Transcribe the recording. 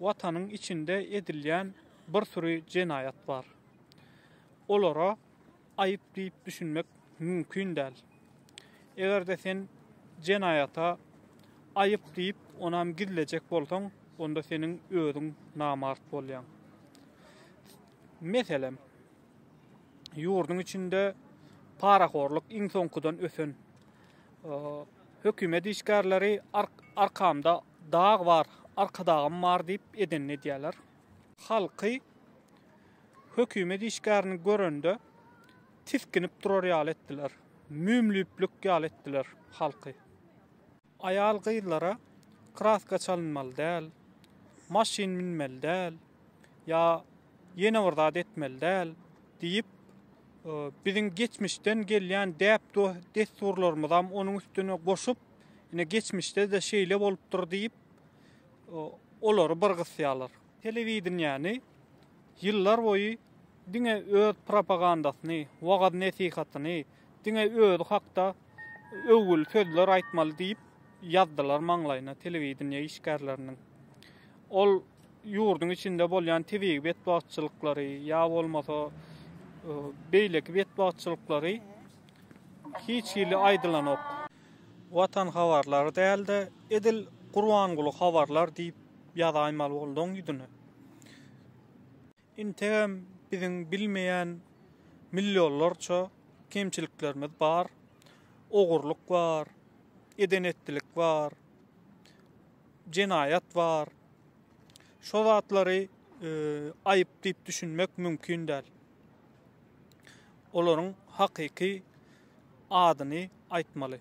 Watanyň içinde edilýän bir süri jenaýat bar. Olara aýyp diýip düşünmek mümkin däl. Eger-de sen jenaýata aýyp diýip onam gizlejek bolsaň, onda seniň özüň namart bolýaň. Meselem, ýurduň içinde parahorlyk iň soňkudan ösen. Hökümet işgärleri arkamda Dag bar, Arkadagym bar diýip edenini edýärler. Halky hökümet işgärini görende tisginip durar ýaly etdiler. Müýmlüýplik ýaly etdiler halky. Aýal-gyzlara kraska çalynmaly däl, maşyn münmeli däl ýa ýene bir zat etmeli däl diýip, biziň geçmişden gelýän däp-dessurlarymyzam onuň üstüne goşup, Ine geçmişde-de şeýle bolupdyr diýip, olary bir gysýarlar. Telewideniýäni ýyllar boýy diňe öz propagandasyny, wagyz-nesihatyny, diňe özi hakda öwgüli sözler aýtmaly diýip ýazdylar maňlaýyna telewideniýe işgärleriniň. Ol ýurduň içinde bolýan tebigy betbagtçylyklary ýa bolmasa beýleki betbagtçylyklary hiç hili aýdylanok. Watan habarlary däl-de, edil Gurbanguly habarlar diýip ýazaýmaly bolduň ýüzüne. Integem biziň bilmeýän millionlarça kemçiliklerimiz bar, ogurlyk bar, eden-etdilik bar, jenaýat bar. Şo zatlary aýyp diýip düşünmek mümkin däl. olaryň hakyky adyny aýtmaly.